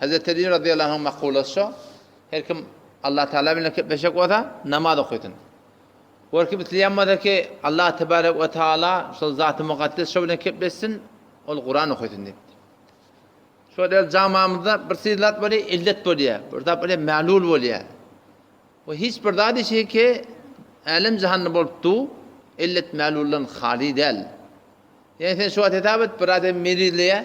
Hezreti Aly razyýallahu anh makulasy şo, Her kim Allah Tagala bilen gepleşjek bolsa, namaz okasyn. Her kim isleýän bolsa ki, Allah tebarek we taala şol Zaty Mukaddes şo bilen gepleşsin, ol Kuran okasyn diýipdir. Şo däl jamamyzda bir syn zat bolýar, illet bolýar. Bir zat bolýar, mählul bolýar. We hiç bir zat işi ki, älem jahanda bolup du, illet mähluldan hali däl. Ýa sen şo wagt hesap et, bir adam merizleýär,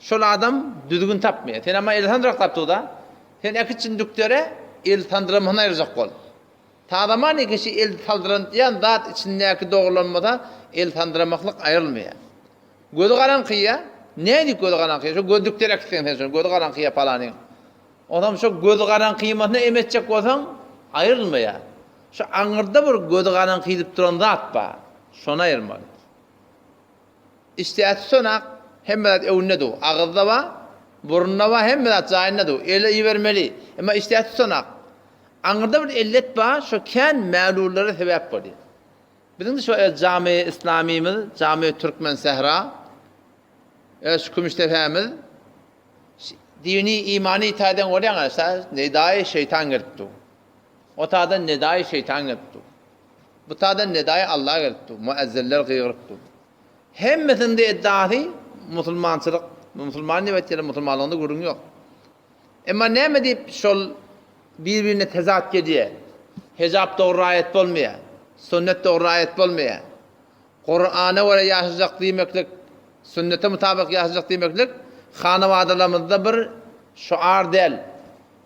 Şol adam düzgün tapmaýar. Sen ama el sandyrak tap duda. Sen äkit jündüklere el sandyramasyny aýyrjak bol. Tazamanýa kişi el saldyrantyýan zat içindäki dogrulanmasa el sandyramaklyk aýyrylmaýar. Gözi garaňkyýa, nädip gözi garaňkyýa, şo gözdükleri äkitseň sen şony gözi garaňkyýa palanyň. Onam şo gözi garaňkyýmasyna em etjek bolsaň aýyrylmaýar. Şo aňyrda bir gözi garaňkyýdyp duran zat bar. Şony aýyrmaly. Isdäsi sonak, hemme zat öwünde duw. Agyzda bar, burunda bar, hemme zat jaýynda duw. Ele ibermeli. Emma isdäsi sonak. Aňyrda bir ellet bar, şo kän mälullere sebäp bolýar. Biziň-de şo öz jamy Islamymyz, jamy Türkmen sähra, öz şu kümüş depämiz dini, imany taýdan görýäňiz, nedaýy şeýtan gelip duw. Otadan nedaýy şeýtan gelip duw. Bu taýdan nedaýy Alla gelip dur, muezzinler gygyryp dur. Hemmesiniňde eddasy musulmançylyk, musulman diýip aýtýarlar, musulmanlygynda gürrüň ýok. Emma näme diýip şol bir-birine tezat gelýär? Hejap dogry raýat bolmaýar, sünnet dogry raýat bolmaýar. Kurana görä ýaşajak diýmeklik, sünnete mutabyk ýaşajak diýmeklik hanawadalarymyzda bir şuar däl.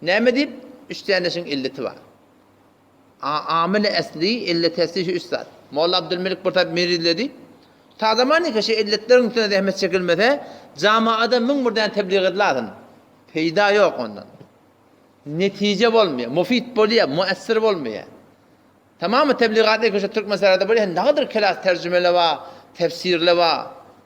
Näme diýip, üç däne işiň illeti bar. A Amyl-i Esli illetäsli şu üç zat. Molla Abdylmelik bir tarap merizledi. Ta zamanynka şu illetleriň üstüne zähmet çekilmese, jamaada müň bir däne tebligy edilärsin. Peýda ýok ondan. Netije bolmaýar. Mufit bolýar, müessir bolmaýar. Tamamy tebligat ilki şu Türkmen serhedinde bolýar. Nädir kelas terjimeler bar, tefsirler bar.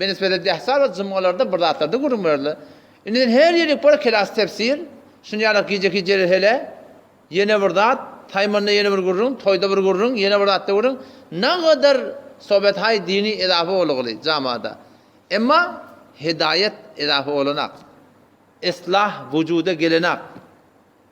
Benisbede dehsa we jumgalarda bir zatlarda gürrüň berildi. Indiden her ýerlik bor kelas tefsir, şuny ýalak gijeki jerehele, ýene bir zat, taýmynda ýene bir gürrüň, toýda bir gürrüň, ýene bir zatda gürrüň, nagadar sohbet-haý dini edafa bolugly jamada. Emma hidaýat edafa bolanak. Islah wujuda gelenak.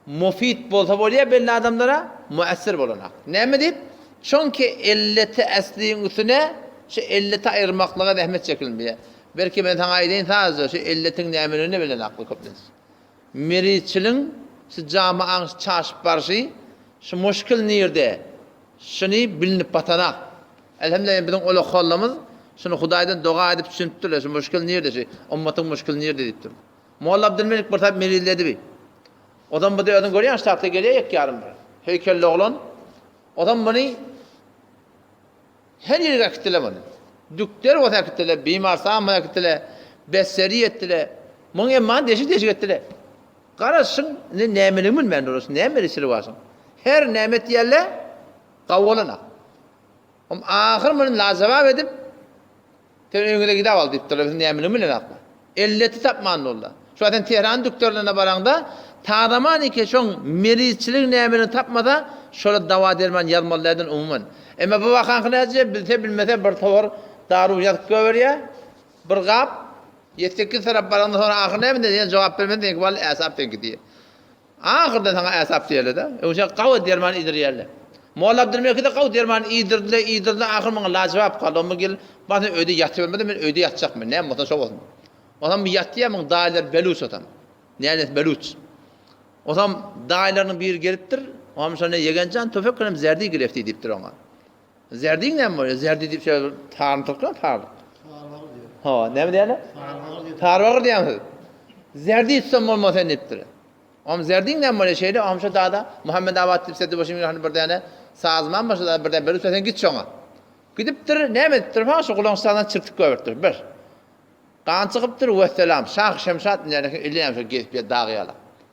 Mufit bolsa bolýar belli adamlara, müessir bolanok. Näme diýip? Çünki illeti äsliň üstüne şu illeti aýyrmaklyga zähmet çekilmeýär. Belki men saňa aýdaýyn sadajy, şu illetiň nämedigini-de bilenoklar köplenç. Müritçiligiň şu jamaň çaşyp barşy, şu muşkil nirde? Şuny bilinip batanok. Elhemdülillah biziň ol okyjylarymyz şuny Hudaýdan doga edip düşünipdirler, şu muşkil nirde, şu ummatyň muşkili nirde diýipdir. Molla Abdylmelik bir sap melizledi bi. Ozan bu-da özüň görýäň ştapda gelýär ýek ýarym bir höýkelli oglan. Ozan muny her ýerge äkitdiler muny. Dükder bolsa äkitdiler, Bimarsan bolsa äkitdiler, Besseriýa etdiler. Muň emmany deşik-deşik etdiler. Garaşyň, indi nämeligini bilmän durasy, näme edesileri barsyň. Her näme etýärler, gawy bolan-a. Ahyry muny lajebap edip, Sen öýňüze gidäp al diýipdirler, biz nämüni bilenokmy? Elleti tapman boldy. Şuwagt sen Tehranyň dükderlerine baraňda, tazaman eken şoň merizçiligiň nämedigini tapmasa, şolar dawa-derman ýazmaly dälden umuman. Emma bu wakaňky näce, bilse-bilmese bir towar daru ýazyp göberýär, bir gap, ýedi-sekiz tarap baraňda soň ahyr näme diýer, ýene jogap bermese, seňki bally äsap seňki diýer. Ahyrda saňa äsap diýerler-de, öýjä gawy derman iýdirýärler. Molla Abdylmekide gawy derman iýdirdiler, iýdirdiler, ahyry maňa lajybap galdy. Ondan gel, bar sen öýde ýatybermede men öýde ýatjakmyn, näme bolsa şo bolsun. Onam bir ýatýar, muň daýylary beluç otam. Näniýesi beluç. Onam daýylarynyň biri gelipdir, onam şonda Ýegen jan, töfeklenem zärdi girew diýipdir oňa. Zerdiň näme bolýar? Zerdi diýip şeýle taryny tokýan taryny. Tarbagyr diýýär. Ho, näme diýýärler? Tarbagyr diýýär. Tarbagyr diýýäňiz. Zerdi itsem bolmaz sen diýipdir. Om zerdiň näme bolýar şeýle? Om şo dada Muhammet Abat diýip Seddi Boşyň ýaly bir däne sazman bar, şo dada bir däne berip sen git şoňa. Gidipdir, näme edipdir? Ho, şo gulagyň şasyny çirtip goýberipdir. Bir. Gan çykypdyr, wessalam. Şah Şemşat indi ýaly eken, elli ýaşa gezip ýör dagy ýala.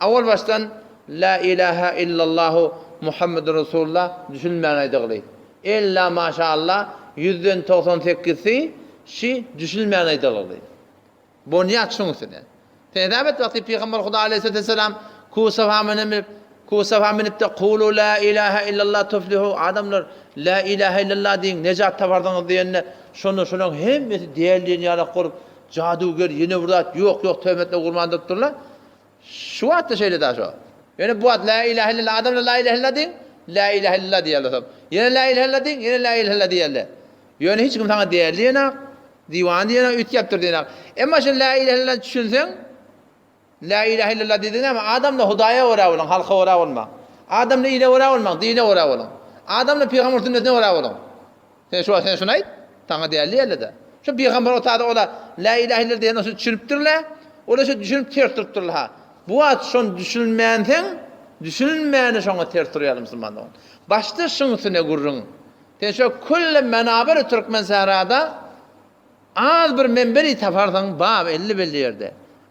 Awalbaşdan La ilaha illallahu Muhammedun Rasulullah düşülmän aýdagly. Ella maşa Allah ýüzden togsan sekizsi şi düşülmän aýdagly. Bonýat şuň üstüne. Sen hesap et wagty Pygamber Huda Aleýhissalaty Wessalam Kuw Safa menenip Kuw Safa menipde Kulu La ilaha illallah tuflihu adamlar La ilaha illallah diýiň nejat taparsyňyz diýende şonda şolaň hemmesi däl diýen ýalak bolup jaduger ýene bir zat ýok ýok töhmetine gurban durup durlar. Şu wagtda şeýle daş o. Ýöne bu wagt la ilahe illallah adamlar la ilahe illallah diýiň, la ilahe illallah diýerler soň. Ýene la ilahe illallah diýiň, ýene la ilahe illallah diýerler. Ýöne hiç kim saňa däli diýenak, diwan diýenak, üýtgäpdir diýenak. Emma şu la ilahe illallah düşünseň, la ilahe illallah diýdigiň näme? Adamlar Hudaýa görä boluň, halka görä bolmaň. Adamlar ile görä bolmaň, dine görä boluň. Adamlar pygamber sünnetine görä boluň. Sen şu wagt sen şuny aýt, saňa däl diýerler-dä. Şu pygamber otady ola Lä ilähe illallah diýen zat düşünipdir-le, ola şo düşünip ters turupdyrlar-ha. Bu wagt şony düşünmänseň, düşünilmäne şoňa ters turýarlar musulman dogan. Başda şuň üstüne gürrüň. Sen şu külli menaberi türkmensährada az bir men biri taparsyň, bar elli belli ýerde.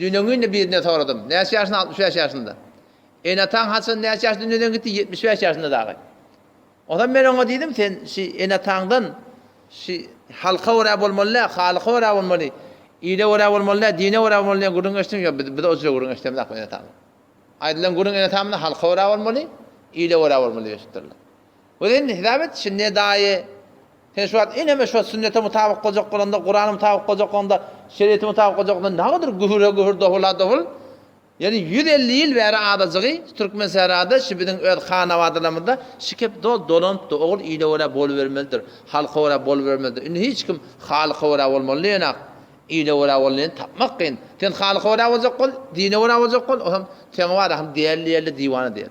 Düýn-öňňinde birinden soradym. Näçe ýaşyňda? Altmyş bäş ýaşymda. Ene-ataň haçan, näçe ýaşda dünýeden gitdi? Ýetmiş bäş ýaşynda dagy. Onsoň men oňa diýdim, Sen şi ene-ataňdan şi halka görä bolmaly däl, halyka görä bolmaly, ile görä bolmaly däl, dine görä bolmaly diýen gürrüň eşitdiň, ýok, biz biz o jüre gürrüň eşidemizok ene-atamyzdan. Aýdylan gürrüň ene-atamyzdan halka görä bolmaly, ile görä bolmaly diýip eşitdirler. Özi indi hesap et, şindi edaýy, sen şu wagt eneme şo sünnete mutabyk boljak bolanda, Kurana mutabyk boljak bolanda, şeriýete mutabyk boljak bolanda nagadyr gühür-ä gühür, dowul-a dowul. Ýöne ýüz elli ýyl bäri adajygy Türkmensährada şu biziň öz hanabadalarymyzda şu kep dol dolanypdy, ogul ile görä bolubermelidir, halka görä bolubermelidir. Indi hiç kim halyka görä bolmaly däl-ak, ile görä bolanyny tapmak kyn. Sen halyka görä boljak bol, dine görä boljak bol, o hem seň bar-a hem diýerli-diýerli diwana diýer.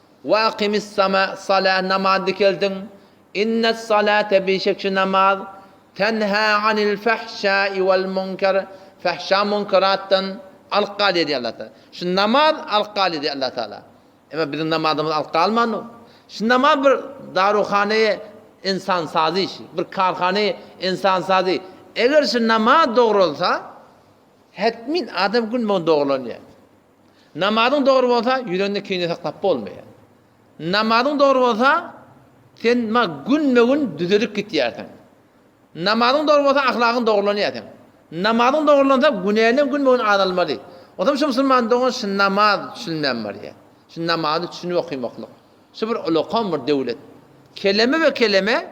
Wa aqimis sama, sala, namazy dikeldiň. Innes salate, bişek şu namaz, tenha anil fahşai wal munkar, fahşa munkaratdan alyp galyar diýýär Allah Taala. Şu namaz alyp galyar diýýär Allah Taala. Emma biziň namazymyz alyp galmandyr. Şu namaz bir daruhanaýa ensan sazy işi, bir karhanaýa ensan sazy. Eger şu namaz dogralsa, hetmin adam gün boýun dogrulanýar. Namazyň dogry bolsa, ýüreginde kine saklap bolmaýar. Namazyň dogry bolsa, sen ma günme-gün düzelip gitýärsiň. Namazyň dogry bolsa, ahlagyň dogrulanýar seň. Namazyň dogrulansa, günäňden günme-gün azalmaly. Onsoň şu musulman dogan şu namaz düşünmän barýar. Şu namazy düşünip okaýmaklyk. Şu bir ulakam bir döwlet. Keleme we keleme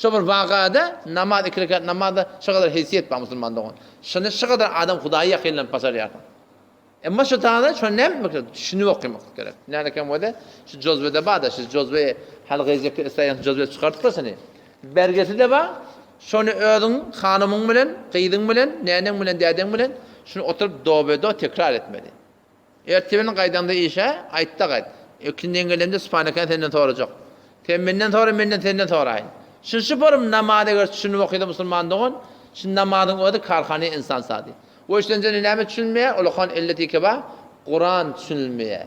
Şo bir wakada namaz iki rekat namazda şo kadar heýsiýet bar musulman dogan. Şonda şo kadar adam Hudaýa ýakynlanyp başarýarsyň. Emma şo taýda şo näme meselem düşünip okamak gerek. Näme ekem bolsa şu jozbede barda şu jozbe hal gyzjak isleýän jozbe çykardyplar şony. Bergiside bar. Şony özüň hanymyň bilen, gyzyň bilen, näneň bilen, dädeň bilen şuny oturyp dobedo tekrar etmeli. Ertebirn gaýdaňda işe, aýtda gaýt. Ökünden gelemde Sübhanekäni senden sorajak. Sen menden sora, menden senden soraýyn. Şun şu porum namazy eger tüşünip okysa musulman dogan, şun namazyň özi karhany insan sady. Woy şundan jany näme tüşünmeýär, ulakan illet iki bar, Kuran tüşünilmeýär.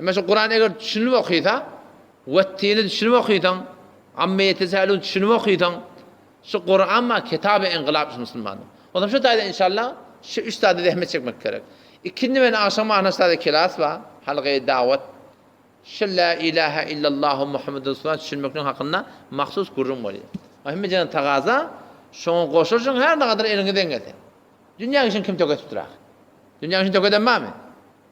Emma şu Kurany eger düşünip okysa, Wettini düşünip okysaň, Amme ýetesäelun düşünip okysaň, şu Kuran bar kitaby engylap şu musulmanyň. Onsoň şu taýdan inşallah şu üç zada zähmet çekmek gerek. Ikindi bilen agşam wagtyna üç zada kelas bar, halga dawat. Şu la ilaha illallahu Muhammedun Resulullah düşünmekligiň hakynda mahsus gürrüň bolýar. Ol hemme jenden tagaza, şoňa goşulyşyň her nagadar eliňizden gelse. Dünýä işini kim tökedipdir ahyry? Dünýä işini tökeden barmy?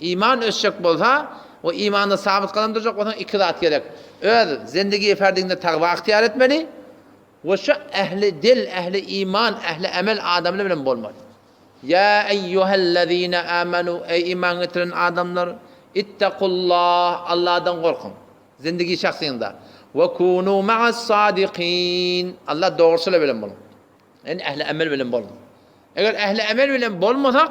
Iman ösjek bolsa we imanda sabyt gadam durjak bolsaň iki zat gerek. Öz zendigi ferdiňde takwa ygtyýar etmeli we şu ähli dil, ähli iman, ähli emel adamlar bilen bolmaly. Ýa eýýuhellezine amenu eý iman getiren adamlar ittakullah Allahdan gorkuň zendigi şahsyňda we kunu ma'as sadikin Allah dogruçylar bilen boluň. Ýani ähli emel bilen boluň. Eger ähli emel bilen bolmasak